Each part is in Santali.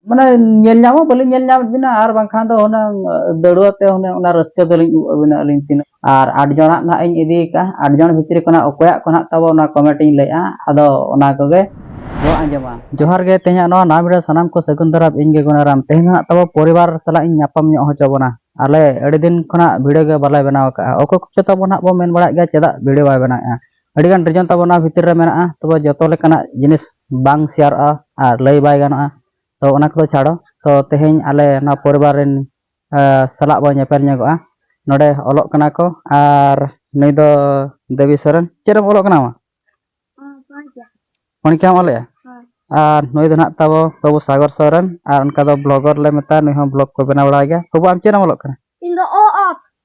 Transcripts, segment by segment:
ᱢᱟᱱᱮ ᱧᱮᱞ ᱧᱟᱢ ᱦᱚᱸ ᱵᱟᱹᱞᱤᱧ ᱧᱮᱞ ᱧᱟᱢᱮᱫ ᱵᱤᱱᱟ ᱟᱨ ᱵᱟᱝᱠᱷᱟᱱ ᱫᱚ ᱦᱩᱱᱟᱹᱝ ᱫᱟᱹᱲᱩᱣᱟᱹ ᱛᱮ ᱦᱩᱱᱟᱹᱝ ᱚᱱᱟ ᱨᱟᱹᱥᱠᱟᱹ ᱫᱚᱞᱤᱧ ᱩᱵ ᱟᱹᱵᱤᱱᱟ ᱟᱹᱞᱤᱧ ᱛᱤᱱᱟᱹᱜ ᱟᱨ ᱟᱴ ᱡᱚᱱᱟᱜ ᱱᱟᱦᱟᱜ ᱤᱧ ᱤᱫᱤ ᱟᱠᱟᱫᱼᱟ ᱟᱴ ᱡᱚᱱ ᱵᱷᱤᱛᱨᱤ ᱠᱷᱚᱱᱟᱜ ᱚᱠᱚᱭᱟᱜ ᱠᱚ ᱱᱟᱦᱟᱜ ᱛᱟᱵᱚ ᱚᱱᱟ ᱠᱚᱢᱮᱱᱴ ᱤᱧ ᱞᱟᱹᱭᱮᱫᱼᱟ ᱟᱫᱚ ᱚᱱᱟ ᱠᱚᱜᱮ ᱵᱚ ᱟᱸᱡᱚᱢᱟ ᱡᱚᱦᱟᱨ ᱜᱮ ᱛᱮᱦᱮᱧᱟᱜ ᱱᱚᱣᱟ ᱱᱟᱣᱟ ᱵᱷᱤᱰᱤᱭᱳ ᱥᱟᱱᱟᱢ ᱠᱚ ᱥᱟᱹᱜᱩᱱ ᱫᱟᱨᱟᱢ ᱤᱧ ᱜᱮ ᱜᱩᱱᱟᱨᱟᱢ ᱛᱮᱦᱮᱧ ᱱᱟᱦᱟᱜ ᱛᱟᱵᱚ ᱯᱚᱨᱤᱵᱟᱨ ᱥᱟᱞᱟᱜ ᱤᱧ ᱧᱟᱯᱟᱢ ᱧᱚᱜ ᱦᱚᱪᱚ ᱵᱚᱱᱟ ᱟᱞᱮ ᱟᱹᱰᱤ ᱫᱤᱱ ᱠᱷᱚᱱᱟᱜ ᱵᱷᱤᱰᱤᱭᱳ ᱜᱮ ᱵᱟᱞᱮ ᱵᱮᱱᱟᱣ ᱟᱠᱟᱫᱼᱟ ᱚᱠᱚᱭ ᱠᱚᱪᱚ ᱛᱟᱵᱚ ᱱᱟᱦᱟᱜ ᱵᱚ ᱢᱮᱱ ᱵᱟᱲᱟᱭᱮᱫ ᱜᱮᱭᱟ ᱪᱮᱫᱟᱜ ᱵᱷᱤᱰᱤᱭᱳ ᱵᱟᱭ ᱵᱮᱱᱟᱣᱮᱫᱼᱟ ᱟᱹᱰᱤᱜᱟᱱ ᱨᱤᱡᱚᱱ ᱛᱟᱵᱚ ᱱᱚᱣᱟ ᱵᱷᱤᱛᱤᱨ ᱨᱮ ᱢᱮᱱᱟᱜᱼᱟ ᱛᱚᱵᱮ ᱡᱚᱛᱚ ᱞᱮᱠᱟᱱᱟᱜ ᱡᱤᱱᱤᱥ ᱵᱟᱝ ᱥᱮᱭᱟᱨᱚᱜᱼᱟ ᱟᱨ ᱞᱟᱹᱭ ᱵᱟᱭ ᱜᱟᱱᱚᱜᱼᱟ ᱛᱚ ᱚᱱᱟ ᱠᱚᱫᱚ ᱪᱷᱟᱲᱚ ᱛᱚ ᱛᱮᱦᱮᱧ ᱟᱞᱮ ᱱᱚᱣᱟ ᱯᱚᱨᱤᱵᱟᱨ ᱨᱮᱱ ᱥᱟᱞᱟᱜ ᱵᱚᱱ ᱧᱮᱯᱮᱞ ᱧᱚᱜᱚᱜᱼᱟ ᱱᱚᱰᱮ ᱚᱞᱚᱜ ᱠᱟᱱᱟ ᱠᱚ ᱟᱨ ᱱᱩᱭ ᱫᱚ ᱫᱮᱵᱤ ᱥᱚᱨᱮᱱ ᱪᱮᱫ ᱨᱮᱢ ᱚᱞᱚᱜ ᱠᱟᱱᱟ ᱢᱟ ᱯᱚᱱᱤᱠᱟᱢ ᱚᱞᱮᱜᱼᱟ ᱟᱨ ᱱᱩᱭ ᱫᱚ ᱱᱟᱜ ᱛᱟᱵᱚ ᱵᱟᱹᱵᱩ ᱥᱟᱜᱚᱨ ᱥᱚᱨᱮᱱ ᱟᱨ ᱚᱱᱠᱟ ᱫᱚ ᱵᱞᱚᱜᱚᱨ ᱞᱮ ᱢᱮᱛᱟᱭᱟ ᱱᱩᱭ ᱦᱚᱸ ᱵᱞᱚᱜ ᱠᱚ ᱵᱮᱱᱟᱣ ᱵᱟᱲᱟᱭ ᱜᱮᱭᱟ ᱵᱟᱹᱵᱩ ᱟᱢ ᱪᱮᱫ ᱮᱢ ᱚᱞᱚᱜ ᱠᱟᱱᱟ ᱤᱧ ᱫᱚ ᱚ ᱚᱛ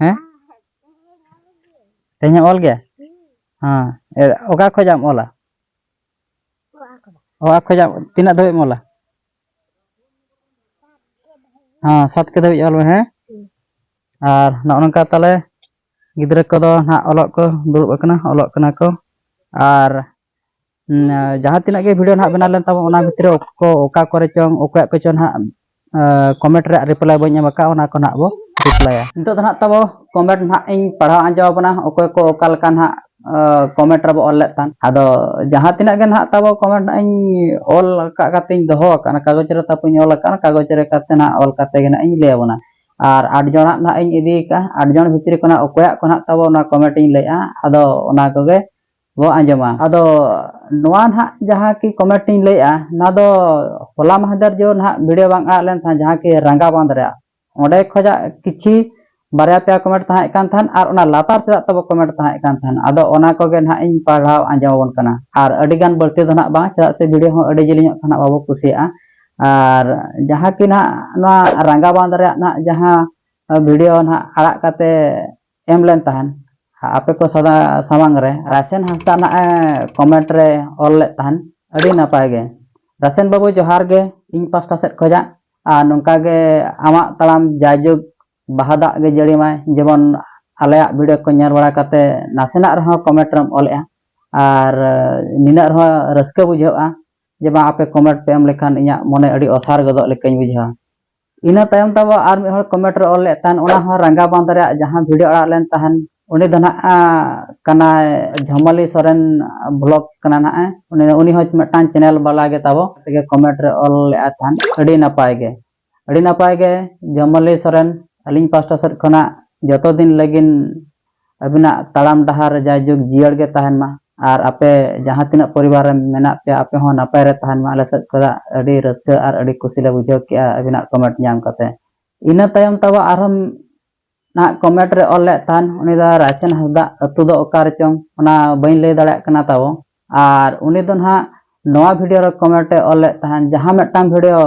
ᱦᱮᱸ ᱛᱮᱦᱮᱧ ᱮᱢ ᱚᱞ ᱜᱮᱭᱟ ᱦᱮᱸ ᱚᱠᱟ ᱠᱷᱚᱡ ᱟᱢ ᱚᱞᱟ ᱚᱠᱟ ᱠᱷᱚᱡ ᱟᱢ ᱛᱤᱱᱟᱹᱜ ᱫᱷᱟᱹᱵᱤᱡ ᱮᱢ ᱚᱞᱟ ᱦᱮᱸ ᱥᱟᱛ ᱠᱮ ᱫᱷᱟᱹᱵᱤᱡ ᱚᱞ ᱢᱮ ᱦᱮᱸ ᱟᱨ ᱱᱚᱜᱼᱚ ᱱᱚᱝᱠᱟ ᱛᱟᱦᱚᱞᱮ ᱜᱤᱫᱽᱨᱟᱹ ᱠᱚᱫᱚ ᱱᱟᱦᱟᱜ ᱚᱞᱚᱜ ᱠᱚ ᱫᱩᱲᱩᱵ ᱟᱠᱟᱱᱟ ᱚᱞᱚᱜ ᱠᱟᱱᱟ ᱠᱚ ᱟᱨ ᱡᱟᱦᱟᱸ ᱛᱤᱱᱟᱹᱜ ᱜᱮ ᱵᱷᱤᱰᱤᱭᱳ ᱱᱟᱦᱟᱜ ᱵᱮᱱᱟᱣ ᱞᱮᱱ ᱛᱟᱵᱚᱱ ᱚᱱᱟ ᱵᱷᱤᱛᱨᱤ ᱨᱮ ᱚᱠᱚ ᱚᱠᱟ ᱠᱚᱨᱮ ᱪᱚᱝ ᱚᱠᱚᱭᱟᱜ ᱠᱚᱪᱚ ᱱᱟᱦᱟᱜ ᱠᱚᱢᱮᱱᱴ ᱨᱮᱭᱟᱜ ᱨᱤᱯᱞᱟᱭ ᱵᱟᱹᱧ ᱮᱢ ᱟᱠᱟᱫ ᱚᱱᱟ ᱠᱚ ᱱᱟᱦᱟᱜ ᱵᱚ ᱨᱤᱯᱞᱟᱭᱟ ᱱᱤᱛᱚᱜ ᱫᱚ ᱱᱟᱦᱟᱜ ᱛᱟᱵᱚ ᱠᱚᱢᱮᱱᱴ ᱱᱟᱦᱟᱜ ᱤᱧ ᱯᱟᱲᱦᱟᱣ ᱟᱸᱡᱚᱢ ᱟᱵᱚᱱᱟ ᱚᱠᱚᱭ ᱠᱚ ᱚᱠᱟ ᱞᱮᱠᱟ ᱱᱟᱦᱟᱜ ᱠᱚᱢᱮᱱᱴ ᱨᱮᱵᱚ ᱚᱞ ᱞᱮᱫ ᱛᱟᱦᱮᱸᱫ ᱟᱫᱚ ᱡᱟᱦᱟᱸ ᱛᱤᱱᱟᱹᱜ ᱜᱮ ᱱᱟᱦᱟᱜ ᱛᱟᱵᱚ ᱠᱚᱢᱮᱱᱴ ᱱᱟᱦᱟᱜ ᱤᱧ ᱚᱞ ᱟᱠᱟᱫ ᱠᱟᱛᱮᱧ ᱫᱚᱦᱚ ᱟᱠᱟᱫᱼᱟ ᱠᱟᱜᱚᱡᱽ ᱨᱮ ᱛᱟᱯᱚᱧ ᱚᱞ ᱟᱠᱟᱫᱼᱟ ᱠᱟᱜᱚᱡᱽ ᱨᱮ ᱠᱟᱛᱮ ᱱᱟᱦᱟᱜ ᱚᱞ ᱠᱟᱛᱮ ᱜᱮ ᱱᱟᱦᱟᱜ ᱤᱧ ᱞᱟᱹᱭ ᱟᱵᱚᱱᱟ ᱟᱨ ᱟᱴ ᱡᱚᱱᱟᱜ ᱱᱟᱦᱟᱜ ᱤᱧ ᱤᱫᱤ ᱟᱠᱟᱫᱼᱟ ᱟᱴ ᱡᱚᱱ ᱵᱷᱤᱛᱨᱤ ᱠᱷᱚᱱᱟᱜ ᱚᱠᱚᱭᱟᱜ ᱠᱚ ᱱᱟᱦᱟᱜ ᱛᱟᱵᱚ ᱚᱱᱟ ᱠᱚᱢᱮᱱᱴ ᱤᱧ ᱞᱟᱹᱭᱮᱫᱼᱟ ᱟᱫᱚ ᱚᱱᱟ ᱠᱚᱜᱮ ᱵᱚ ᱟᱸᱡᱚᱢᱟ ᱟᱫᱚ ᱱᱚᱣᱟ ᱱᱟᱦᱟᱜ ᱡᱟᱦᱟᱸ ᱠᱤ ᱠᱚᱢᱮᱱᱴ ᱤᱧ ᱞᱟᱹᱭᱮᱜᱼᱟ ᱱᱚᱣᱟ ᱫᱚ ᱦᱚᱞᱟ ᱢᱟᱦᱫᱮᱨ ᱡᱚ ᱱᱟᱦᱟᱜ ᱵᱷᱤᱰᱤᱭᱳ ᱵᱟᱝ ᱟᱲᱟᱜ ᱞᱮᱱ ᱛᱟᱦᱮᱸᱫ ᱡᱟᱦᱟᱸ ᱠᱤ ᱨᱟᱸᱜᱟ ᱵᱟᱸᱫᱷ ᱨᱮᱭᱟᱜ ᱚᱸᱰᱮ ᱠᱷᱚᱡᱟᱜ ᱠᱤᱪᱷᱤ ᱵᱟᱨᱭᱟ ᱯᱮᱭᱟ ᱠᱚᱢᱮᱱᱴ ᱛᱟᱦᱮᱸ ᱠᱟᱱ ᱛᱟᱦᱮᱸᱫ ᱟᱨ ᱚᱱᱟ ᱞᱟᱛᱟᱨ ᱥᱮᱫᱟᱜ ᱛᱟᱵᱚ ᱠᱚᱢᱮᱱᱴ ᱛᱟᱦᱮᱸ ᱠᱟᱱ ᱛᱟᱦᱮᱸᱫ ᱟᱫᱚ ᱚᱱᱟ ᱠᱚᱜᱮ ᱱᱟᱦᱟᱜ ᱤᱧ ᱯᱟᱲᱦᱟᱣ ᱟᱸᱡᱚᱢ ᱟᱵᱚᱱ ᱠᱟᱱᱟ ᱟᱨ ᱟᱹᱰᱤ ᱜᱟᱱ ᱵᱟᱹᱲᱛᱤ ᱫᱚ ᱱᱟᱦᱟᱜ ᱵᱟᱝ ᱪᱮᱫᱟᱜ ᱥᱮ ᱵᱷᱤᱰᱤᱭᱳ ᱦᱚᱸ ᱟᱹᱰᱤ ᱡᱤᱞᱤᱧᱚᱜ ᱠᱷᱟᱱ ᱵᱟᱵᱚ ᱠᱩᱥᱤᱭᱟᱜᱼᱟ ᱟᱨ ᱡᱟᱦᱟᱸ ᱠᱤ ᱱᱟᱦᱟᱜ ᱱᱚᱣᱟ ᱨᱟᱸᱜᱟ ᱵᱟᱸᱫᱷ ᱨᱮᱭᱟᱜ ᱱᱟᱦᱟᱜ ᱡᱟᱦᱟᱸ ᱵᱷᱤᱰᱤᱭᱳ ᱱᱟᱦᱟᱜ ᱟᱲᱟᱜ ᱠᱟᱛᱮ ᱮᱢ ᱞᱮᱱ ᱛᱟᱦᱮᱱ ᱟᱯᱮ ᱠᱚ ᱥᱟᱢᱟᱝ ᱨᱮ ᱨᱟᱥᱮᱱ ᱦᱟᱸᱥᱫᱟ ᱱᱟᱜ ᱮ ᱠᱚᱢᱮᱱᱴ ᱨᱮ ᱚᱞ ᱞᱮᱫ ᱛᱟᱦᱮᱱ ᱟᱹᱰᱤ ᱱᱟᱯᱟᱭ ᱜᱮ ᱨᱟᱥᱮᱱ ᱵᱟᱹᱵᱩ ᱡᱚᱦᱟᱨ ᱜᱮ ᱤᱧ ᱯᱟᱥᱴᱟ ᱥᱮᱫ ᱠᱷᱚᱱᱟᱜ ᱟᱨ ᱱᱚᱝᱠᱟ ᱜᱮ ᱟᱢᱟᱜ ᱛᱟᱲᱟᱢ ᱡᱟᱭᱡᱩᱜᱽ ᱵᱟᱦᱟ ᱫᱟᱜ ᱜᱮ ᱡᱟᱹᱲᱤ ᱢᱟᱭ ᱡᱮᱢᱚᱱ ᱟᱞᱮᱭᱟᱜ ᱵᱷᱤᱰᱤᱭᱳ ᱠᱚ ᱧᱮᱞ ᱵᱟᱲᱟ ᱠᱟᱛᱮ ᱱᱟᱥᱮᱱᱟᱜ ᱨᱮᱦᱚᱸ ᱠᱚᱢᱮᱱᱴ ᱨᱮᱢ ᱚᱞᱮᱜᱼᱟ ᱟᱨ ᱱᱤᱱᱟᱹᱜ ᱨᱮᱦᱚᱸ ᱨᱟᱹᱥᱠᱟᱹ ᱵᱩᱡᱷᱟᱹᱜᱼᱟ ᱡᱮ ᱵᱟᱝ ᱟᱯᱮ ᱠᱚᱢᱮᱱᱴ ᱯᱮ ᱮᱢ ᱞᱮᱠᱷᱟᱱ ᱤᱧᱟᱹᱜ ᱢᱚᱱᱮ ᱟᱹᱰᱤ ᱚᱥᱟᱨ ᱜᱚᱫᱚᱜ ᱞᱮᱠᱟᱧ ᱵᱩᱡᱷᱟᱹᱣᱟ ᱤᱱᱟᱹ ᱛᱟᱭᱚᱢ ᱛᱟᱵᱚ ᱟᱨ ᱢᱤᱫ ᱦᱚᱲ ᱠᱚᱢᱮᱱᱴ ᱨᱮ ᱚᱞ ᱞᱮᱫ ᱛᱟᱦᱮᱱ ᱚᱱᱟ ᱦᱚᱸ ᱨᱟᱸᱜᱟ ᱵᱟᱸᱫᱷ ᱨᱮᱭᱟᱜ ᱡᱟᱦᱟᱸ ᱵᱷᱤᱰᱤᱭᱳ ᱟᱲᱟᱜ ᱞᱮᱱ ᱛᱟᱦᱮᱱ ᱩᱱᱤ ᱫᱚ ᱱᱟᱜ ᱠᱟᱱᱟᱭ ᱡᱷᱚᱢᱟᱞᱤ ᱥᱚᱨᱮᱱ ᱵᱞᱚᱜ ᱠᱟᱱᱟ ᱱᱟᱜ ᱩᱱᱤ ᱩᱱᱤ ᱦᱚᱸ ᱢᱤᱫᱴᱟᱝ ᱪᱮᱱᱮᱞ ᱵᱟᱞᱟ ᱜᱮ ᱛᱟᱵᱚ ᱛᱮᱜᱮ ᱠᱚᱢᱮᱱᱴ ᱨᱮ ᱚᱞ ᱞᱮᱫ ᱛᱟᱦᱮᱱ ᱟᱹᱰᱤ ᱱᱟᱯᱟᱭ ᱜᱮ ᱟᱹᱰᱤ ᱱᱟᱯᱟᱭ ᱜᱮ ᱡᱷᱚᱢᱟᱞᱤ ᱥᱚᱨᱮᱱ ᱟᱹᱞᱤᱧ ᱯᱟᱥᱴᱟ ᱥᱮᱫ ᱠᱷᱚᱱᱟᱜ ᱡᱚᱛᱚ ᱫᱤᱱ ᱞᱟᱹᱜᱤᱫ ᱟᱹᱵᱤᱱᱟᱜ ᱛᱟᱲᱟᱢ ᱰᱟᱦᱟᱨ ᱨᱮ ᱡᱟᱭ ᱡᱩᱜᱽ ᱡᱤᱭᱟᱹᱲ ᱜᱮ ᱛᱟᱦᱮᱱ ᱢᱟ ᱟᱨ ᱟᱯᱮ ᱡᱟᱦᱟᱸ ᱛᱤᱱᱟᱹᱜ ᱯᱚᱨᱤᱵᱟᱨ ᱨᱮ ᱢᱮᱱᱟᱜ ᱯᱮᱭᱟ ᱟᱯᱮ ᱦᱚᱸ ᱱᱟᱯᱟᱭ ᱨᱮ ᱛᱟᱦᱮᱱ ᱢᱟ ᱟᱞᱮ ᱥᱮᱫ ᱠᱷᱚᱱᱟᱜ ᱟᱹᱰᱤ ᱨᱟᱹᱥᱠᱟᱹ ᱟᱨ ᱟᱹᱰᱤ ᱠᱩᱥᱤ ᱞᱮ ᱵᱩᱡᱷᱟᱹᱣ ᱠᱮᱫᱼᱟ ᱟᱹᱵᱤᱱᱟᱜ ᱠᱚᱢᱮᱱᱴ ᱧᱟᱢ ᱠᱟᱛᱮ ᱤᱱᱟᱹ ᱛᱟᱭᱚᱢ ᱛᱟᱵᱚ ᱟᱨᱦᱚᱸ ᱱᱟᱦᱟᱜ ᱠᱚᱢᱮᱱᱴ ᱨᱮ ᱚᱞ ᱞᱮᱫ ᱛᱟᱦᱮᱱ ᱩᱱᱤ ᱫᱚ ᱨᱟᱭᱥᱮᱱ ᱦᱟᱸᱥᱫᱟ ᱟᱹᱛᱩ ᱫᱚ ᱚᱠᱟ ᱨᱮ ᱪᱚᱝ ᱚᱱᱟ ᱵᱟᱹᱧ ᱞᱟᱹᱭ ᱫᱟᱲᱮᱭᱟᱜ ᱠᱟᱱᱟ ᱛᱟᱵᱚ ᱟᱨ ᱩᱱᱤ ᱫᱚ ᱱᱟᱦᱟᱜ ᱱᱚᱣᱟ ᱵᱷᱤᱰᱤᱭᱳ ᱨᱮ ᱠᱚᱢᱮᱱᱴ ᱮ ᱚᱞ ᱞᱮᱫ ᱛᱟᱦᱮᱱ ᱡᱟᱦᱟᱸ ᱢᱤᱫᱴᱟᱝ ᱵᱷᱤᱰᱤᱭᱳ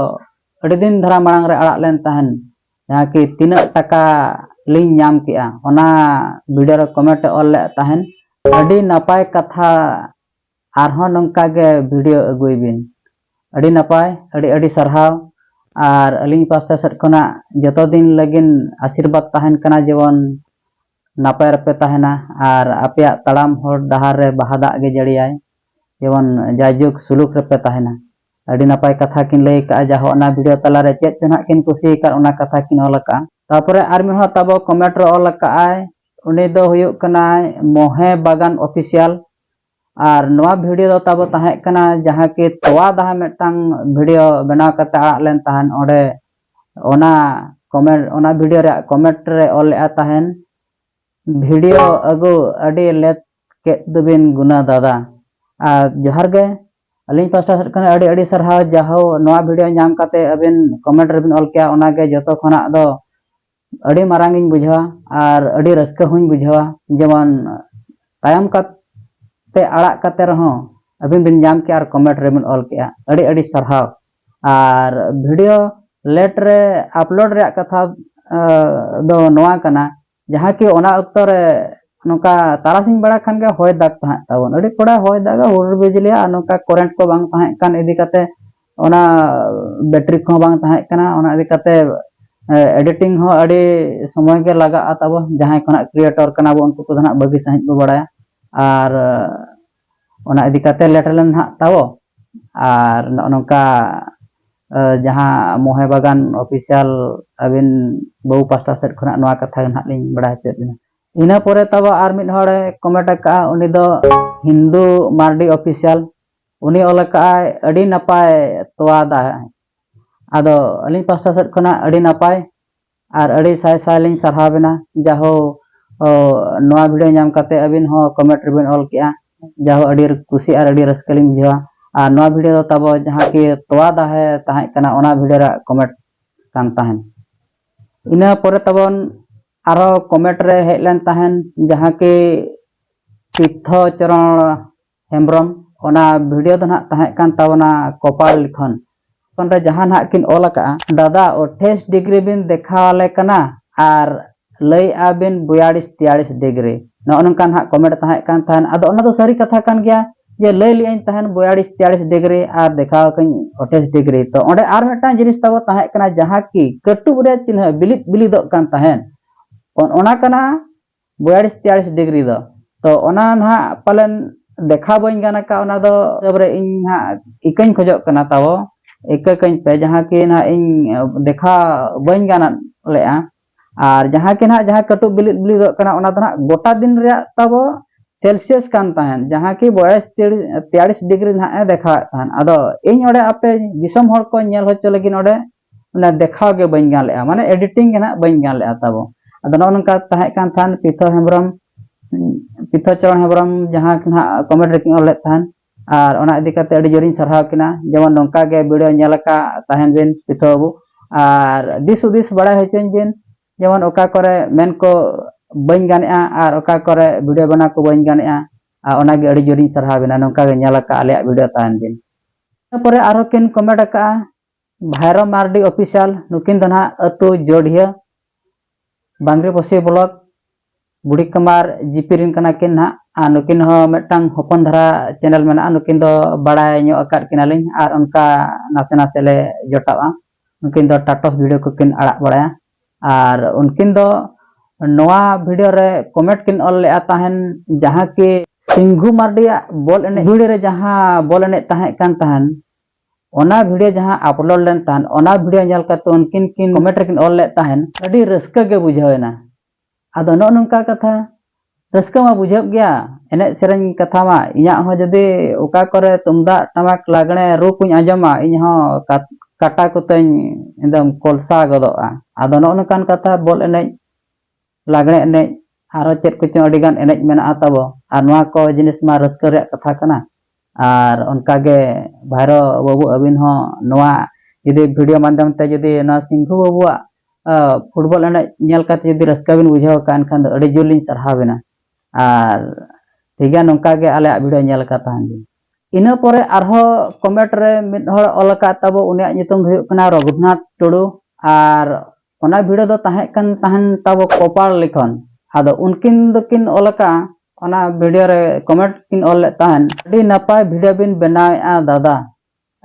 ᱟᱹᱰᱤ ᱫᱤᱱ ᱫᱷᱟᱨᱟ ᱢᱟᱲᱟᱝ ᱨᱮ ᱟᱲᱟᱜ ᱞᱮᱱ ᱛᱟᱦᱮᱱ ᱡᱟᱦᱟᱸ ᱠᱤ ᱛᱤᱱᱟᱹᱜ ᱴᱟᱠᱟ ᱞᱤᱧ ᱧᱟᱢ ᱠᱮᱜᱼᱟ ᱚᱱᱟ ᱵᱷᱤᱰᱤᱭᱳ ᱨᱮ ᱠᱚᱢᱮᱱᱴ ᱮ ᱚᱞ ᱞᱮᱫ ᱛᱟᱦᱮᱱ ᱟᱹᱰᱤ ᱱᱟᱯᱟᱭ ᱠᱟᱛᱷᱟ ᱟᱨᱦᱚᱸ ᱱᱚᱝᱠᱟ ᱜᱮ ᱵᱷᱤᱰᱤᱭᱳ ᱟᱹᱜᱩᱭ ᱵᱤᱱ ᱟᱹᱰᱤ ᱱᱟᱯᱟᱭ ᱟᱹᱰᱤ ᱟᱹᱰᱤ ᱥᱟᱨᱦᱟᱣ ᱟᱨ ᱟᱹᱞᱤᱧ ᱯᱟᱥᱴᱟ ᱥᱮᱫ ᱠᱷᱚᱱᱟᱜ ᱡᱚᱛᱚ ᱫᱤᱱ ᱞᱟᱹᱜᱤᱫ ᱟᱥᱤᱨᱵᱟᱫᱽ ᱛᱟᱦᱮᱱ ᱠᱟᱱᱟ ᱡᱮᱢᱚᱱ ᱱᱟᱯᱟᱭ ᱨᱮᱯᱮ ᱛᱟᱦᱮᱱᱟ ᱟᱨ ᱟᱯᱮᱭᱟᱜ ᱛᱟᱲᱟᱢ ᱦᱚᱨ ᱰᱟᱦᱟᱨ ᱨᱮ ᱵᱟᱦᱟ ᱫᱟᱜ ᱜᱮ ᱡᱟᱹᱲᱤᱭᱟᱭ ᱡᱮᱢᱚᱱ ᱡᱟᱭᱡᱩᱜᱽ ᱥᱩᱞᱩᱠ ᱨᱮᱯᱮ ᱛᱟᱦᱮᱱᱟ᱾ ᱟᱹᱰᱤ ᱱᱟᱯᱟᱭ ᱠᱟᱛᱷᱟ ᱠᱤᱱ ᱞᱟᱹᱭ ᱟᱠᱟᱫᱼᱟ ᱡᱟᱦᱳᱠ ᱚᱱᱟ ᱵᱷᱤᱰᱤᱭᱳ ᱛᱟᱞᱟ ᱨᱮ ᱪᱮᱫ ᱪᱚ ᱱᱟᱦᱟᱜ ᱠᱤᱱ ᱠᱩᱥᱤ ᱟᱠᱟᱫ ᱚᱱᱟ ᱠᱟᱛᱷᱟ ᱠᱤᱱ ᱚᱞ ᱟᱠᱟᱫᱼᱟ᱾ ᱛᱟᱨᱯᱚᱨᱮ ᱟᱨ ᱢᱤᱫ ᱦᱚᱲ ᱛᱟᱵᱚ ᱠᱚᱢᱮᱱᱴ ᱨᱮ ᱚᱞ ᱟᱠᱟᱫᱼᱟᱭ ᱩᱱᱤ ᱫᱚ ᱦᱩᱭᱩᱜ ᱠᱟᱱᱟᱭ ᱢᱚᱦᱮ ᱵᱟᱜᱟᱱ ᱚᱯᱷᱤᱥᱤᱭᱟᱞ ᱟᱨ ᱱᱚᱣᱟ ᱵᱷᱤᱰᱤᱭᱳ ᱫᱚ ᱛᱟᱵᱚ ᱛᱟᱦᱮᱸ ᱠᱟᱱᱟ ᱡᱟᱦᱟᱸ ᱠᱤ ᱛᱚᱣᱟ ᱫᱟᱦᱟ ᱢᱤᱫᱴᱟᱝ ᱵᱷᱤᱰᱤᱭᱳ ᱵᱮᱱᱟᱣ ᱠᱟᱛᱮ ᱟᱲᱟᱜ ᱞᱮᱱ ᱛᱟᱦᱮᱱ ᱚᱸᱰᱮ ᱚᱱᱟ ᱠᱚᱢᱮᱱᱴ ᱚᱱᱟ ᱵᱷᱤᱰᱤᱭᱳ ᱨᱮᱭᱟᱜ ᱠᱚᱢᱮᱱᱴ ᱨᱮ ᱚᱞ ᱞᱮᱫᱼᱟ ᱛᱟᱦᱮᱱ ᱵᱷᱤᱰᱤᱭᱳ ᱟᱹᱜᱩ ᱟᱹᱰᱤ ᱞᱮᱛ ᱠᱮᱫ ᱫᱚᱵᱤᱱ ᱜᱩᱱᱟ ᱫᱟᱫᱟ ᱟᱨ ᱡᱚᱦᱟᱨ ᱜᱮ ᱟᱹᱞᱤᱧ ᱯᱟᱥᱴᱟ ᱥᱮᱫ ᱠᱷᱚᱱ ᱟᱹᱰᱤ ᱟᱹᱰᱤ ᱥᱟᱨᱦᱟᱣ ᱡᱟᱦᱳ ᱱᱚᱣᱟ ᱵᱷᱤᱰᱤᱭᱳ ᱧᱟᱢ ᱠᱟᱛᱮ ᱟᱹᱵᱤᱱ ᱠᱚᱢᱮᱱᱴ ᱨᱮᱵᱤᱱ ᱚᱞ ᱠᱮᱜᱼᱟ ᱚᱱᱟᱜᱮ ᱡᱚᱛᱚ ᱠᱷᱚᱱᱟᱜ ᱫᱚ ᱟᱹᱰᱤ ᱢᱟᱨᱟᱝ ᱤᱧ ᱵᱩᱡᱷᱟᱹᱣᱟ ᱟᱨ ᱟᱹᱰᱤ ᱨᱟᱹᱥᱠᱟᱹ ᱦᱚᱸᱧ ᱵᱩᱡᱷᱟᱹᱣᱟ ᱡᱮᱢᱚᱱ ᱛᱟᱭᱚᱢ ᱠᱟᱛᱮ ᱟᱲᱟᱜ ᱠᱟᱛᱮ ᱨᱮᱦᱚᱸ ᱟᱹᱵᱤᱱ ᱵᱤᱱ ᱧᱟᱢ ᱠᱮᱜᱼᱟ ᱟᱨ ᱠᱚᱢᱮᱱᱴ ᱨᱮᱵᱤᱱ ᱚᱞ ᱠᱮᱜᱼᱟ ᱟᱹᱰᱤ ᱟᱹᱰᱤ ᱥᱟᱨᱦᱟᱣ ᱟᱨ ᱵᱷᱤᱰᱤᱭᱳ ᱞᱮᱴ ᱨᱮ ᱟᱯᱞᱳᱰ ᱨᱮᱭᱟᱜ ᱠᱟᱛᱷᱟ ᱫᱚ ᱱᱚᱣᱟ ᱠᱟᱱᱟ ᱡᱟᱦᱟᱸ ᱠᱤ ᱚᱱᱟ ᱚᱠᱛᱚ ᱨᱮ ᱱᱚᱝᱠᱟ ᱛᱟᱨᱟᱥᱤᱧ ᱵᱮᱲᱟ ᱠᱷᱟᱱ ᱜᱮ ᱦᱚᱭ ᱫᱟᱜᱽ ᱛᱟᱦᱮᱸᱫ ᱛᱟᱵᱚᱱ ᱟᱹᱰᱤ ᱠᱚᱲᱟ ᱦᱚᱭ ᱫᱟᱜᱟ ᱦᱩᱰᱩᱨ ᱵᱤᱡᱽᱞᱤᱭᱟ ᱟᱨ ᱱᱚᱝᱠᱟ ᱠᱚᱨᱮᱱᱴ ᱠᱚ ᱵᱟᱝ ᱛᱟᱦᱮᱸ ᱠᱟᱱ ᱤᱫᱤ ᱠᱟᱛᱮ ᱚᱱᱟ ᱵᱮᱴᱨᱤ ᱠᱚᱦᱚᱸ ᱵᱟᱝ ᱛᱟᱦᱮᱸ ᱠᱟᱱᱟ ᱚᱱᱟ ᱤᱫᱤ ᱠᱟᱛᱮ ᱮᱰᱤᱴᱤᱝ ᱦᱚᱸ ᱟᱹᱰᱤ ᱥᱚᱢᱚᱭ ᱜᱮ ᱞᱟᱜᱟᱜᱼᱟ ᱛᱟᱵᱚ ᱡᱟᱦᱟᱸᱭ ᱠᱚ ᱱᱟᱦᱟᱜ ᱠᱨᱤᱭᱮᱴᱚᱨ ᱠᱟᱱᱟ ᱵᱚ ᱩᱱᱠᱩ ᱠᱚᱫᱚ ᱱᱟᱦᱟᱜ ᱵᱷᱟᱹᱜᱤ ᱥᱟᱺᱦᱤᱡ ᱵᱚ ᱵᱟᱲᱟᱭᱟ ᱟᱨ ᱚᱱᱟ ᱤᱫᱤ ᱠᱟᱛᱮ ᱞᱮᱴ ᱞᱮᱱᱟ ᱱᱟᱦᱟᱜ ᱛᱟᱵᱚ ᱟᱨ ᱱᱚᱜᱼᱚ ᱱᱚᱝᱠᱟ ᱡᱟᱦᱟᱸ ᱢᱚᱦᱮ ᱵᱟᱜᱟᱱ ᱚᱯᱷᱤᱥᱤᱭᱟᱞ ᱟᱹᱵᱤᱱ ᱵᱟᱹᱵᱩ ᱯᱟᱥᱴᱟ ᱥᱮᱫ ᱠᱷᱚᱱᱟᱜ ᱱᱚᱣᱟ ᱠᱟᱛᱷᱟ ᱜᱮ ᱱᱟᱦᱟᱜ ᱞᱤᱧ ᱵᱟᱲᱟᱭ ᱦᱚᱪᱚᱭᱮᱫ ᱵᱤᱱᱟ ᱤᱱᱟᱹ ᱯᱚᱨᱮ ᱛᱟᱵᱚ ᱟᱨ ᱢᱤᱫ ᱦᱚᱲᱮ ᱠᱚᱢᱮᱱᱴ ᱟᱠᱟᱫᱼᱟ ᱩᱱᱤ ᱫᱚ ᱦᱤᱱᱫᱩ ᱢᱟᱨᱰᱤ ᱚᱯᱷᱤᱥᱤᱭᱟᱞ ᱩᱱᱤ ᱚᱞ ᱟᱠᱟᱫ ᱟᱭ ᱟᱹᱰᱤ ᱱᱟᱯᱟᱭ ᱛᱚᱣᱟ ᱫᱟᱜ ᱟᱫᱚ ᱟᱹᱞᱤᱧ ᱯᱟᱥᱴᱟ ᱥᱮᱫ ᱠᱷᱚᱱᱟᱜ ᱟᱹᱰᱤ ᱱᱟᱯᱟᱭ ᱟᱨ ᱟᱹᱰᱤ ᱥᱟᱭ ᱥᱟᱭ ᱞᱤᱧ ᱥᱟᱨᱦᱟᱣ ᱵᱮᱱᱟ ᱡᱟᱦᱳ ᱱᱚᱣᱟ ᱵᱷᱤᱰᱤᱭᱳ ᱧᱟᱢ ᱠᱟᱛᱮ ᱟᱹᱵᱤᱱ ᱦᱚᱸ ᱠᱚᱢᱮᱱᱴ ᱨᱮᱵᱤᱱ ᱚᱞ ᱠᱮᱜᱼᱟ ᱡᱟᱦᱳ ᱟᱹᱰᱤ ᱠᱩᱥᱤ ᱟᱨ ᱟᱹᱰᱤ ᱨᱟᱹᱥᱠᱟᱹ ᱞᱤᱧ ᱵᱩᱡᱷᱟᱹᱣᱟ ᱟᱨ ᱱᱚᱣᱟ ᱵᱷᱤᱰᱤᱭᱳ ᱫᱚ ᱛᱟᱵᱚ ᱡᱟᱦᱟᱸ ᱠᱤ ᱛᱚᱣᱟ ᱫᱟᱦᱮ ᱛᱟᱦᱮᱸ ᱠᱟᱱᱟ ᱚᱱᱟ ᱵᱷᱤᱰᱤᱭᱳ ᱨᱮ ᱠᱚᱢᱮᱱᱴ ᱠᱟᱱ ᱛᱟᱦᱮᱱ ᱤᱱᱟᱹ ᱯᱚᱨᱮ ᱛᱟᱵᱚᱱ ᱟᱨᱦᱚᱸ ᱠᱚᱢᱮᱱᱴ ᱨᱮ ᱦᱮᱡ ᱞᱮᱱ ᱛᱟᱦᱮᱱ ᱡᱟᱦᱟᱸ ᱠᱤ ᱛᱤᱨᱛᱷᱚ ᱪᱚᱨᱚᱬ ᱦᱮᱢᱵᱽᱨᱚᱢ ᱚᱱᱟ ᱵᱷᱤᱰᱤᱭᱳ ᱫᱚ ᱱᱟᱦᱟᱜ ᱛᱟᱦᱮᱸᱜ ᱠᱟᱱ ᱛᱟᱵᱚᱱᱟ ᱠᱚᱯᱟᱞ ᱞᱤᱠᱷᱚᱱ᱾ ᱞᱤᱠᱷᱚᱱ ᱨᱮ ᱡᱟᱦᱟᱸ ᱱᱟᱦᱟᱜ ᱠᱤᱱ ᱚᱞ ᱟᱠᱟᱜᱼᱟ᱾ ᱫᱟᱫᱟ ᱚᱴᱷᱮᱭᱥ ᱰᱤᱜᱽᱨᱤ ᱵᱤᱱ ᱫᱮᱠᱷᱟᱣ ᱟᱞᱮ ᱠᱟᱱᱟ ᱟᱨ ᱞᱟᱹᱭᱮᱜᱼᱟ ᱵᱤᱱ ᱵᱚᱭᱟᱲᱤᱥ ᱛᱮᱭᱟᱲᱤᱥ ᱰᱤᱜᱽᱨᱤ᱾ ᱱᱚᱜᱼᱚ ᱱᱚᱝᱠᱟ ᱱᱟᱦᱟᱜ ᱠᱚᱢᱮᱱᱴ ᱛᱟᱦᱮᱸᱜ ᱠᱟᱱ ᱛᱟᱦᱮᱸᱫ᱾ ᱟᱫᱚ ᱚᱱᱟ ᱫᱚ ᱥᱟᱹᱨᱤ ᱠᱟᱛᱷᱟ ᱠᱟᱱ ᱜᱮᱭᱟ ᱡᱮ ᱞᱟᱹᱭ ᱞᱮᱜᱼᱟᱹᱧ ᱛᱟᱦᱮᱸᱫ ᱵᱚᱭᱟᱲᱤᱥ ᱛᱮᱭᱟᱲᱤᱥ ᱰᱤᱜᱽᱨᱤ ᱟᱨ ᱫᱮᱠᱷᱟᱣ ᱟᱠᱟᱹᱧ ᱚᱴᱷᱮᱭᱥ ᱰᱤᱜᱽᱨᱤ᱾ ᱛᱚ ᱚᱸᱰᱮ ᱟᱨ ᱢᱤᱫᱴᱟᱝ ᱡᱤᱱᱤᱥ ᱛᱟᱵᱚ ᱛᱟᱦᱮᱸᱜ ᱠᱟᱱᱟ ᱡᱟᱦᱟᱸ ᱠᱤ ᱠᱟᱹᱴᱩᱵ ᱨᱮ ᱪᱤᱱᱦᱟᱹ ᱵᱤᱞᱤᱫ ᱵᱤᱞᱤᱫᱚᱜ ᱠᱟᱱ ᱛᱟᱦᱮᱸᱫ᱾ ᱚᱱ ᱚᱱᱟ ᱠᱟᱱᱟ ᱵᱚᱭᱟᱲᱤᱥ ᱛᱮᱭᱟᱲᱤᱥ ᱰᱤᱜᱽᱨᱤ ᱫᱚ ᱛᱚ ᱚᱱᱟ ᱱᱟᱦᱟᱜ ᱯᱟᱞᱮᱱ ᱫᱮᱠᱷᱟᱣ ᱵᱟᱹᱧ ᱜᱟᱱ ᱟᱠᱟᱫ ᱚᱱᱟ ᱫᱚ ᱦᱤᱥᱟᱹᱵ ᱨᱮ ᱤᱧ ᱱᱟᱦᱟᱜ ᱤᱠᱟᱹᱧ ᱠᱷᱚᱡᱚᱜ ᱠᱟᱱᱟ ᱛᱟᱵᱚ ᱤᱠᱟᱹ ᱠᱟᱹᱧ ᱯᱮ ᱡᱟᱦᱟᱸ ᱠᱤ ᱱᱟᱦᱟᱜ ᱤᱧ ᱫᱮᱠᱷᱟᱣ ᱵᱟᱹᱧ ᱜᱟᱱ ᱞᱮᱫᱼᱟ ᱟᱨ ᱡᱟᱦᱟᱸ ᱠᱤ ᱱᱟᱦᱟᱜ ᱡᱟᱦᱟᱸ ᱠᱟᱹᱴᱩᱵ ᱵᱤᱞᱤᱫ ᱵᱤᱞᱤᱫᱚᱜ ᱠᱟᱱᱟ ᱚᱱᱟ ᱫᱚ ᱱᱟᱦᱟᱜ ᱜᱚᱴᱟ ᱫᱤᱱ ᱨᱮᱭᱟᱜ ᱛᱟᱵᱚ ᱥᱮᱞᱥᱤᱭᱟᱥ ᱠᱟᱱ ᱛᱟᱦᱮᱱ ᱡᱟᱦᱟᱸ ᱠᱤ ᱵᱚᱭᱟᱲᱤᱥ ᱛᱮᱭᱟᱲᱤᱥ ᱰᱤᱜᱽᱨᱤ ᱱᱟᱦᱟᱜ ᱮ ᱫᱮᱠᱷᱟᱣᱮᱫ ᱛᱟᱦᱮᱱ ᱟᱫᱚ ᱤᱧ ᱚᱸᱰᱮ ᱟᱯᱮ ᱫᱤᱥᱚᱢ ᱦᱚᱲ ᱠᱚ ᱧᱮᱞ ᱦᱚᱪᱚ ᱞᱟᱹᱜᱤᱫ ᱚᱸᱰᱮ ᱚᱱᱟ ᱫᱮᱠᱷᱟᱣ ᱜᱮ ᱵᱟᱹᱧ ᱜᱟᱱ ᱞᱮᱫᱼᱟ ᱢᱟᱱᱮ ᱮᱰᱤᱴᱤᱝ ᱜᱮ ᱱᱟᱦᱟᱜ ᱵᱟᱹᱧ ᱜᱟᱱ ᱞᱮᱫᱼᱟ ᱛᱟᱵᱚ ᱟᱫᱚ ᱱᱚᱜᱼᱚ ᱱᱚᱝᱠᱟ ᱛᱟᱦᱮᱸ ᱠᱟᱱ ᱛᱟᱦᱮᱱ ᱯᱤᱛᱷᱚ ᱦᱮᱢᱵᱨᱚᱢ ᱯᱤᱛᱷᱚ ᱪᱚᱨᱚᱱ ᱦᱮᱢᱵᱨᱚᱢ ᱡᱟᱦᱟᱸ ᱱᱟᱦᱟᱜ ᱠᱚᱢᱮᱱᱴ ᱨᱮᱠᱤᱱ ᱚᱞ ᱞᱮᱫ ᱛᱟᱦᱮᱱ ᱟᱨ ᱚᱱᱟ ᱤᱫᱤ ᱠᱟᱛᱮ ᱟᱹᱰᱤ ᱡᱳᱨᱤᱧ ᱥᱟᱨᱦᱟᱣ ᱠᱤᱱᱟ ᱡᱮᱢᱚᱱ ᱱᱚᱝᱠᱟ ᱜᱮ ᱵᱷᱤᱰᱤᱭᱳ ᱧᱮᱞ ᱟᱠᱟᱫ ᱛᱟᱦᱮᱱ ᱵᱤᱱ ᱯᱤᱛᱷᱚ ᱵᱟᱹᱵᱩ ᱟᱨ ᱫᱤᱥ ᱦᱩᱫᱤᱥ ᱵᱟᱲᱟᱭ ᱦᱚᱪᱚᱧ ᱵᱤᱱ ᱡᱮᱢᱚᱱ ᱚᱠᱟ ᱠᱚᱨᱮ ᱢᱮᱱ ᱠᱚ ᱵᱟᱹᱧ ᱜᱟᱱᱮᱜᱼᱟ ᱟᱨ ᱚᱠᱟ ᱠᱚᱨᱮ ᱵᱷᱤᱰᱤᱭᱳ ᱵᱮᱱᱟᱣ ᱠᱚ ᱵᱟᱹᱧ ᱜᱟᱱᱮᱜᱼᱟ ᱟᱨ ᱚᱱᱟᱜᱮ ᱟᱹᱰᱤ ᱡᱳᱨᱤᱧ ᱥᱟᱨᱦᱟᱣ ᱵᱤᱱᱟ ᱱᱚᱝᱠᱟ ᱜᱮ ᱧᱮᱞ ᱟᱠᱟᱫ ᱟᱞᱮᱭᱟᱜ ᱵᱷᱤᱰᱤᱭᱳ ᱛᱟᱦᱮᱱ ᱵᱤᱱ ᱛᱟᱨᱯᱚᱨᱮ ᱟᱨᱦᱚᱸ ᱠᱤᱱ ᱠᱚᱢᱮᱱᱴ ᱟᱠᱟᱫᱼᱟ ᱵᱷᱟᱭᱨᱚ ᱢᱟᱨᱰᱤ ᱚᱯᱷᱤᱥᱤᱭᱟᱞ ᱱᱩᱠᱤᱱ ᱫᱚ ᱱᱟᱦᱟᱜ ᱟᱹᱛᱩ ᱡᱚᱰᱷᱤᱭᱟᱹ ᱵᱟᱝᱜᱽᱨᱤ ᱯᱚᱥᱤ ᱵᱞᱚᱠ ᱵᱩᱲᱤ ᱠᱟᱢᱟᱨ ᱡᱤᱯᱤ ᱨᱤᱱ ᱠᱟᱱᱟ ᱠᱤᱱ ᱱᱟᱦᱟᱜ ᱟᱨ ᱱᱩᱠᱤᱱ ᱦᱚᱸ ᱢᱤᱫᱴᱟᱝ ᱦᱚᱯᱚᱱ ᱫᱷᱟᱨᱟ ᱪᱮᱱᱮᱞ ᱢᱮᱱᱟᱜᱼᱟ ᱱᱩᱠᱤᱱ ᱫᱚ ᱵᱟᱲᱟᱭ ᱧᱚᱜ ᱟᱠᱟᱫ ᱠᱤᱱᱟᱞᱤᱧ ᱟᱨ ᱚᱱᱠᱟ ᱱᱟᱥᱮ ᱱᱟᱥᱮ ᱞᱮ ᱡᱚᱴᱟᱜᱼᱟ ᱱᱩᱠᱤᱱ ᱫᱚ ᱴᱟᱴᱚᱥ ᱵᱷᱤᱰᱤᱭᱳ ᱠᱚᱠᱤᱱ ᱟᱲᱟᱜ ᱵᱟᱲᱟᱭᱟ ᱟᱨ ᱩᱱᱠᱤᱱ ᱫᱚ ᱱᱚᱣᱟ ᱵᱷᱤᱰᱤᱭᱳ ᱨᱮ ᱠᱚᱢᱮᱱᱴ ᱠᱤᱱ ᱚᱞ ᱞᱮᱫᱼᱟ ᱛᱟᱦᱮᱱ ᱡᱟᱦᱟᱸ ᱠᱤ ᱥᱤᱝᱜᱷᱩ ᱢᱟᱨᱰᱤᱭᱟᱜ ᱵᱚᱞ ᱮᱱᱮᱡ ᱵᱷᱤᱲ ᱨᱮ ᱡᱟᱦᱟᱸ ᱵᱚᱞ ᱮᱱᱮᱡ ᱛᱟᱦᱮᱸ ᱠᱟᱱ ᱛᱟᱦᱮᱱ ᱚᱱᱟ ᱵᱷᱤᱰᱤᱭᱳ ᱡᱟᱦᱟᱸ ᱟᱯᱞᱳᱰ ᱞᱮᱱ ᱛᱟᱦᱮᱸᱫ ᱚᱱᱟ ᱵᱷᱤᱰᱤᱭᱳ ᱧᱮᱞ ᱠᱟᱛᱮ ᱩᱱᱠᱤᱱ ᱠᱤᱱ ᱠᱚᱢᱮᱱᱴ ᱨᱮᱠᱤᱱ ᱚᱞ ᱞᱮᱫ ᱛᱟᱦᱮᱸᱫ ᱟᱹᱰᱤ ᱨᱟᱹᱥᱠᱟᱹ ᱜᱮ ᱵᱩᱡᱷᱟᱹᱣ ᱮᱱᱟ ᱟᱫᱚ ᱱᱚᱜᱼᱚ ᱱᱚᱝᱠᱟ ᱠᱟᱛᱷᱟ ᱨᱟᱹᱥᱠᱟᱹ ᱢᱟ ᱵᱩᱡᱷᱟᱹᱜ ᱜᱮᱭᱟ ᱮᱱᱮᱡ ᱥᱮᱨᱮᱧ ᱠᱟᱛᱷᱟ ᱢᱟ ᱤᱧᱟᱹᱜ ᱦᱚᱸ ᱡᱩᱫᱤ ᱚᱠᱟ ᱠᱚᱨᱮ ᱛᱩᱢᱫᱟᱜ ᱴᱟᱢᱟᱠ ᱞᱟᱜᱽᱬᱮ ᱨᱩ ᱠᱚᱧ ᱟᱸᱡᱚᱢᱟ ᱤᱧ ᱦᱚᱸ ᱠᱟᱴᱟ ᱠᱚᱛᱤᱧ ᱮᱠᱫᱚᱢ ᱠᱚᱞᱥᱟ ᱜᱚᱫᱚᱜᱼᱟ ᱟᱫᱚ ᱱᱚᱜᱼᱚ ᱱᱚᱝᱠᱟᱱ ᱠᱟᱛᱷᱟ ᱵᱚᱞ ᱮᱱᱮᱡ ᱞᱟᱜᱽᱬᱮ ᱮᱱᱮᱡ ᱟᱨᱦᱚᱸ ᱪᱮᱫ ᱠᱚᱪᱚᱝ ᱟᱹᱰᱤ ᱜᱟᱱ ᱮᱱᱮᱡ ᱢᱮᱱᱟᱜᱼᱟ ᱛᱟᱵᱚ ᱟᱨ ᱱᱚᱣᱟ ᱠᱚ ᱡᱤᱱᱤᱥ ᱢᱟ ᱨᱟᱹᱥᱠᱟᱹ ᱨᱮᱭᱟᱜ ᱠᱟᱛᱷᱟ ᱠᱟᱱᱟ ᱟᱨ ᱚᱱᱠᱟ ᱜᱮ ᱵᱷᱟᱭᱨᱳ ᱵᱟᱹᱵᱩ ᱟᱹᱵᱤᱱ ᱦᱚᱸ ᱱᱚᱣᱟ ᱡᱩᱫᱤ ᱵᱷᱤᱰᱤᱭᱳ ᱢᱟᱫᱽᱫᱷᱚᱢ ᱛᱮ ᱡᱩᱫᱤ ᱱᱚᱣᱟ ᱥᱤᱝᱜᱷᱩ ᱵᱟᱹᱵᱩᱣᱟᱜ ᱯᱷᱩᱴᱵᱚᱞ ᱮᱱᱮᱡ ᱧᱮᱞ ᱠᱟᱛᱮᱫ ᱡᱩᱫᱤ ᱨᱟᱹᱥᱠᱟᱹ ᱵᱤᱱ ᱵᱩᱡᱷᱟᱹᱣ ᱟᱠᱟᱫᱼᱟ ᱮᱱᱠᱷᱟᱱ ᱫᱚ ᱟᱹᱰᱤ ᱡᱳᱨ ᱞᱤᱧ ᱥᱟᱨᱦᱟᱣ ᱵᱤᱱᱟ ᱟᱨ ᱴᱷᱤᱠ ᱜᱮᱭᱟ ᱱᱚᱝᱠᱟ ᱜᱮ ᱟᱞᱮᱭᱟᱜ ᱵᱷᱤᱰᱤᱭᱳ ᱧᱮᱞ ᱟᱠᱟᱫ ᱛᱟᱦᱮᱱ ᱵᱤᱱ ᱤᱱᱟᱹ ᱯᱚᱨᱮ ᱟᱨᱦᱚᱸ ᱠᱚᱢᱮᱱᱴ ᱨᱮ ᱢᱤᱫ ᱦᱚᱲ ᱚᱞ ᱟᱠᱟᱫ ᱛᱟᱵᱚ ᱩᱱᱤᱭᱟᱜ ᱧᱩᱛᱩᱢ ᱫᱚ ᱦᱩᱭᱩᱜ ᱠᱟᱱᱟ ᱨᱚᱜᱷᱩᱱᱟᱛᱷ ᱴᱩᱰᱩ ᱟᱨ ᱚᱱᱟ ᱵᱷᱤᱲᱟᱹ ᱫᱚ ᱛᱟᱦᱮᱸ ᱠᱟᱱ ᱛᱟᱦᱮᱱ ᱛᱟᱵᱚ ᱠᱚᱯᱟᱲ ᱞᱤᱠᱷᱚᱱ ᱟᱫᱚ ᱩᱱᱠᱤᱱ ᱫᱚᱠᱤᱱ ᱚᱞ ᱟᱠᱟᱫᱼᱟ ᱚᱱᱟ ᱵᱷᱤᱰᱤᱭᱳ ᱨᱮ ᱠᱚᱢᱮᱱᱴ ᱠᱤᱱ ᱚᱞ ᱞᱮᱫ ᱛᱟᱦᱮᱱ ᱟᱹᱰᱤ ᱱᱟᱯᱟᱭ ᱵᱷᱤᱰᱤᱭᱳ ᱵᱤᱱ ᱵᱮᱱᱟᱣᱮᱫᱼᱟ ᱫᱟᱫᱟ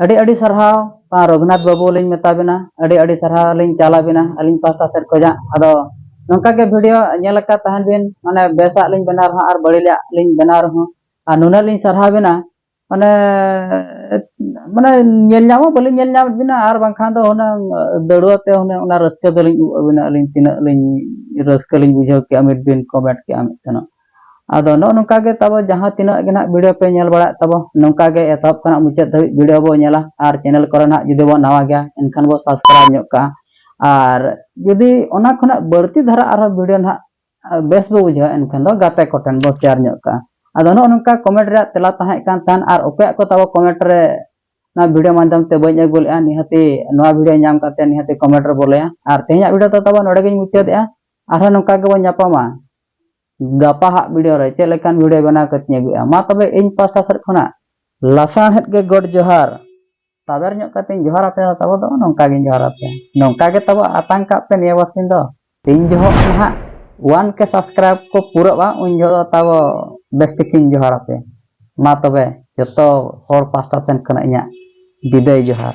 ᱟᱹᱰᱤ ᱟᱹᱰᱤ ᱥᱟᱨᱦᱟᱣ ᱯᱟ ᱨᱚᱜᱷᱩᱱᱟᱛᱷ ᱵᱟᱹᱵᱩ ᱞᱤᱧ ᱢᱮᱛᱟ ᱵᱤᱱᱟ ᱟᱹᱰᱤ ᱟᱹᱰᱤ ᱥᱟᱨᱦᱟᱣ ᱞᱤᱧ ᱪᱟᱞ ᱟᱵᱤᱱᱟ ᱟᱹᱞᱤᱧ ᱯᱟᱥᱴᱟ ᱥᱮᱫ ᱠᱷᱚᱱᱟᱜ ᱟᱫᱚ ᱱᱚᱝᱠᱟ ᱜᱮ ᱵᱷᱤᱰᱤᱭᱳ ᱧᱮᱞ ᱟᱠᱟᱫ ᱛᱟᱦᱮᱱ ᱵᱤᱱ ᱢᱟᱱᱮ ᱵᱮᱥᱟᱜ ᱞᱤᱧ ᱵᱮᱱᱟᱣ ᱨᱮᱦᱚᱸ ᱟᱨ ᱵᱟᱹᱲᱤᱡᱟᱜ ᱞᱤᱧ ᱵᱮᱱᱟᱣ ᱨᱮᱦᱚᱸ ᱟᱨ ᱱᱩᱱᱟᱹᱜ ᱞᱤᱧ ᱥᱟᱨᱦᱟᱣ ᱵᱤᱱᱟ ᱢᱟᱱᱮ ᱢᱟᱱᱮ ᱧᱮᱞ ᱧᱟᱢ ᱦᱚᱸ ᱵᱟᱹᱞᱤᱧ ᱧᱮᱞ ᱧᱟᱢᱮᱫ ᱵᱤᱱᱟ ᱟᱨ ᱵᱟᱝᱠᱷᱟᱱ ᱫᱚ ᱦᱩᱱᱟᱹᱝ ᱫᱟᱹᱲᱣᱟᱹ ᱛᱮ ᱦᱩᱱᱟᱹᱝ ᱚᱱᱟ ᱨᱟᱹᱥᱠᱟᱹ ᱫᱚᱞᱤᱧ ᱩᱵ ᱟᱹᱵᱤᱱᱟ ᱟᱹᱞᱤᱧ ᱛᱤᱱᱟᱹᱜ ᱞᱤᱧ ᱨᱟᱹᱥᱠᱟᱹ ᱞᱤᱧ ᱵᱩᱡᱷᱟᱹᱣ ᱠᱮᱜᱼᱟ ᱢᱤᱫ ᱵᱤᱱ ᱠᱚᱢᱮᱱᱴ ᱠᱮᱜᱼᱟ ᱢᱤᱫ ᱛᱮᱱᱚᱜ ᱟᱫᱚ ᱱᱚᱜᱼᱚ ᱱᱚᱝᱠᱟ ᱜᱮ ᱛᱟᱵᱚ ᱡᱟᱦᱟᱸ ᱛᱤᱱᱟᱹᱜ ᱜᱮ ᱱᱟᱦᱟᱜ ᱵᱷᱤᱰᱤᱭᱳ ᱯᱮ ᱧᱮᱞ ᱵᱟᱲᱟᱭᱮᱫ ᱛᱟᱵᱚ ᱱᱚᱝᱠᱟ ᱜᱮ ᱮᱛᱚᱦᱚᱵ ᱠᱷᱚᱱᱟᱜ ᱢᱩᱪᱟᱹᱫ ᱫᱷᱟᱹᱵᱤᱡ ᱵᱷᱤᱰᱤᱭᱳ ᱵᱚ ᱧᱮᱞᱟ ᱟᱨ ᱪᱮᱱᱮᱞ ᱠᱚᱨᱮ ᱱᱟᱦᱟᱜ ᱡᱩᱫᱤ ᱵᱚ ᱱᱟᱣᱟ ᱜᱮᱭᱟ ᱮᱱᱠᱷᱟᱱ ᱵᱚ ᱥᱟᱵᱥᱠᱨᱟᱭᱤᱵᱽ ᱧᱚᱜ ᱠᱟᱜᱼᱟ ᱟᱨ ᱡᱩᱫᱤ ᱚᱱᱟ ᱠᱷᱚᱱᱟᱜ ᱵᱟᱹᱲᱛᱤ ᱫᱷᱟᱨᱟ ᱟᱨᱦᱚᱸ ᱵᱷᱤᱰᱤᱭᱳ ᱱᱟᱦᱟᱜ ᱵᱮᱥ ᱵᱚ ᱵᱩᱡᱷᱟᱹᱣᱟ ᱮᱱᱠᱷᱟᱱ ᱫᱚ ᱜᱟᱛᱮ ᱠᱚᱴᱷᱮᱱ ᱵᱚ ᱥᱮᱭᱟᱨ ᱧᱚᱜ ᱠᱟᱜᱼᱟ ᱟᱫᱚ ᱱᱚᱜᱼᱚ ᱱᱚᱝᱠᱟ ᱠᱚᱢᱮᱱᱴ ᱨᱮᱭᱟᱜ ᱛᱮᱞᱟ ᱛᱟᱦᱮᱸ ᱠᱟᱱ ᱛᱟᱦᱮᱱ ᱟᱨ ᱚᱠᱚᱭᱟᱜ ᱠᱚ ᱛᱟᱵᱚ ᱠᱚᱢᱮᱱᱴ ᱨᱮ ᱱᱚᱣᱟ ᱵᱷᱤᱰᱤᱭᱳ ᱢᱟᱫᱽᱫᱷᱚᱢ ᱛᱮ ᱵᱟᱹᱧ ᱟᱹᱜᱩ ᱞᱮᱫᱼᱟ ᱱᱤᱦᱟᱹᱛᱤ ᱱᱚᱣᱟ ᱵᱷᱤᱰᱤᱭᱳ ᱧᱟᱢ ᱠᱟᱛᱮ ᱱᱤᱦᱟᱹᱛᱤ ᱠᱚᱢᱮᱱᱴ ᱨᱮ ᱵᱚᱞᱮᱭᱟ ᱟᱨ ᱛᱮᱦᱮᱧᱟᱜ ᱵᱷᱤᱰᱤᱭᱳ ᱫᱚ ᱛᱟᱵᱚ ᱱᱚᱰᱮ ᱜᱤᱧ ᱢᱩᱪᱟᱹᱫᱮᱜᱼᱟ ᱟᱨᱦᱚᱸ ᱱᱚᱝᱠᱟ ᱜᱮᱵᱚᱱ ᱧᱟᱯᱟᱢᱟ ᱜᱟᱯᱟ ᱦᱟᱜ ᱵᱷᱤᱰᱤᱭᱳ ᱨᱮ ᱪᱮᱫ ᱞᱮᱠᱟᱱ ᱵᱷᱤᱰᱤᱭᱳ ᱵᱮᱱᱟᱣ ᱠᱟᱛᱮᱧ ᱟᱹᱜᱩᱭᱟ ᱢᱟ ᱛᱚᱵᱮ ᱤᱧ ᱯᱟᱥᱴᱟ ᱥᱮᱫ ᱠᱷᱚᱱᱟᱜ ᱞᱟᱥᱟᱬᱦᱮᱫ ᱜᱮ ᱜᱚᱰ ᱡᱚᱦᱟᱨ ᱛᱟᱵᱮᱨ ᱧᱚᱜ ᱠᱟᱛᱮᱧ ᱡᱚᱦᱟᱨ ᱟᱯᱮᱭᱟ ᱛᱟᱵᱚ ᱫᱚ ᱱᱚᱝᱠᱟ ᱜᱤᱧ ᱡᱚᱦᱟᱨ ᱟᱯᱮᱭᱟ ᱱᱚᱝᱠᱟ ᱜᱮ ᱛᱟᱵᱚ ᱟᱛᱟᱝ ᱠᱟᱜ ᱯᱮ ᱱᱤᱭᱟᱹ ᱵᱟᱨᱥᱤᱧ ᱫᱚ ᱛᱤᱱ ᱡᱚᱦᱚᱜ ᱱᱟᱦᱟᱜ ᱣᱟᱱ ᱠᱮ ᱥᱟᱵᱥᱠᱨᱟᱭᱤᱵ ᱠᱚ ᱯᱩᱨᱟᱹᱜᱼᱟ ᱩᱱ ᱡᱚᱦᱚᱜ ᱫᱚ ᱛᱟᱵᱚ ᱵᱮᱥ ᱴᱷᱤᱠᱤᱧ ᱡᱚᱦᱟᱨ ᱟᱯᱮᱭᱟ ᱢᱟ ᱛᱚᱵᱮ ᱡᱚᱛᱚ ᱦᱚᱲ ᱯᱟᱥᱴᱟ ᱥᱮᱱ ᱠᱷᱚᱱᱟᱜ ᱤᱧᱟᱹᱜ ᱵᱤᱫᱟᱹᱭ ᱡᱚᱦᱟᱨ